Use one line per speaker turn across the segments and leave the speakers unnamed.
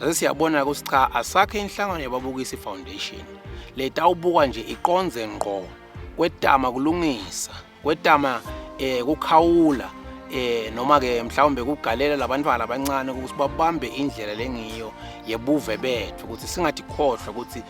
Sase siyabona ukuthi cha asakhe inhlangano yababukisi foundation leta ubukwa nje iqonze ngqo kwetama kulungisa kwetama eh kukhawula eh noma ke mhlawumbe kugalela labantwana abancane ukuthi babambe indlela lengiyo yebuve bethu ukuthi singathi khohlwa ukuthi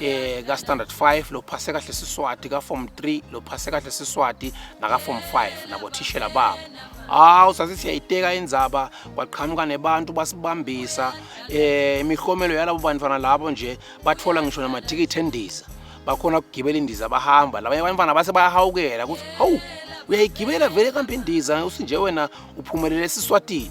eh ka standard 5 lo phase kahle siswati ka form 3 lo phase kahle siswati naka form 5 nabo thishela babo hawu sase siyayiteka indzaba kwaqhamuka nebantu basibambisa eh imihlomelo yalabo bantwana labo nje bathola ngisho namathikithi endiza bakhona ukugibela indiza bahamba labanye abantwana base bayahawukela ukuthi hawu uyayigibela vele kambe indiza usinje wena uphumelele esiswatini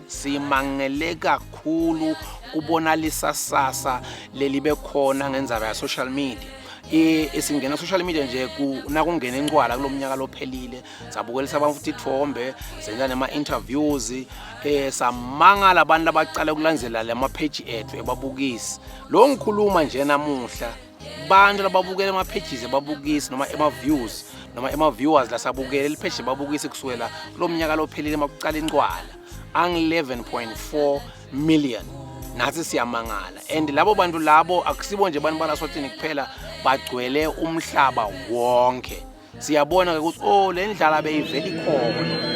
simangele kakhulu kubona lisasasa lelibe khona ngenzaba ya social media isingena social media nje nakungena incwala kulo mnyaka lophelile sabukelisa abantu futhi ithombe senza nema-interviews um samangala abantu abacale ukulandzelela lama-page ethu ebabukisi lo ngikhuluma nje namuhla abantu lababukela ema-pages ebabukisi noma ema-views noma ema-viewers lasabukele lipheje babukisi kusukela kulo mnyaka lophelile uma kuqala incwala angu-11.4 million nathi siyamangala and labo bantu labo akusibo nje abantu balaswatini kuphela bagcwele umhlaba wonke siyabona ke ukuthi oh le ndlala beyivela ikhona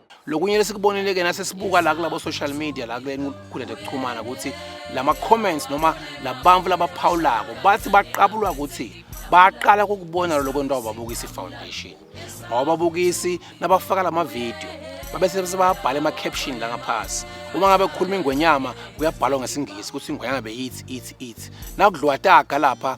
lokunye lesikubonile-ke nasesibuka la kulabo social media la kulenkundla yokuxhumana ukuthi lama comments noma labantu labaphawulako bathi baqabulwa ukuthi baqala ukubona lokho nto ababukisi foundation awababukisi nabafaka lama video babese sebabhala ema caption la ngaphasi uma ngabe kukhuluma ingwenyama kuyabhalwa ngesingisi ukuthi ingwenyama beyithi ithi ithi nakudliwa taga lapha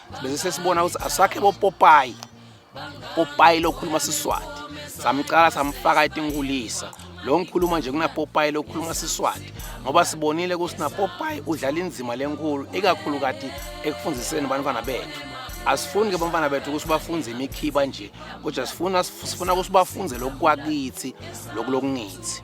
bese sesibona ukuthi asakhe bopopayi popayi lokhuluma siswati samcala samfaka etinkulisa lo ngikhuluma nje kunapopayi lokhuluma siswati ngoba sibonile ukuthi napopayi udlala inzima lenkulu ikakhulu kati ekufundiseni bantwana bethu asifuni ke bantwana bethu ukuthi bafunde imikhiba nje kodwa sifuna sifuna ukuthi bafunde lokwakithi lokulokungithi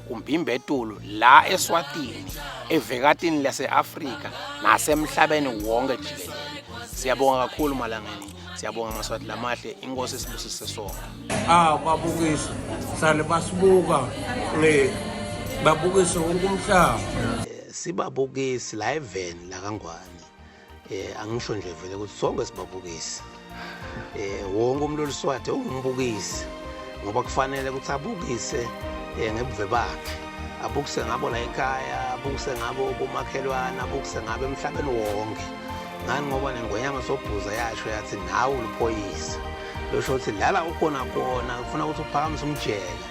kuMbimbetulu la eSwatini, evekatini lase-Afrika nasemhlabeni wonke jikelele. Siyabonga kakhulu Malangeni. Siyabonga Maswati lamahle, inkosi sibusise sonke. Ah babukisi,
sale basibuka ngeke babukise wonke umhlaba. Sibabukisi
la eveni la kaNgwane. eh angisho nje vele ukuthi sonke sibabukisi eh wonke umuntu oluswathe ungumbukisi ngoba kufanele ukuthi abukise eh ngebuve bakhe abukise ngabo la ekhaya abukise ngabo komakhelwane abukise ngabo emhlabeni wonke ngani ngoba nengonyama sobhuza yasho yathi nawe uluphoyisa losho ukuthi lala ukhona kona ufuna ukuthi uphakamise umjeke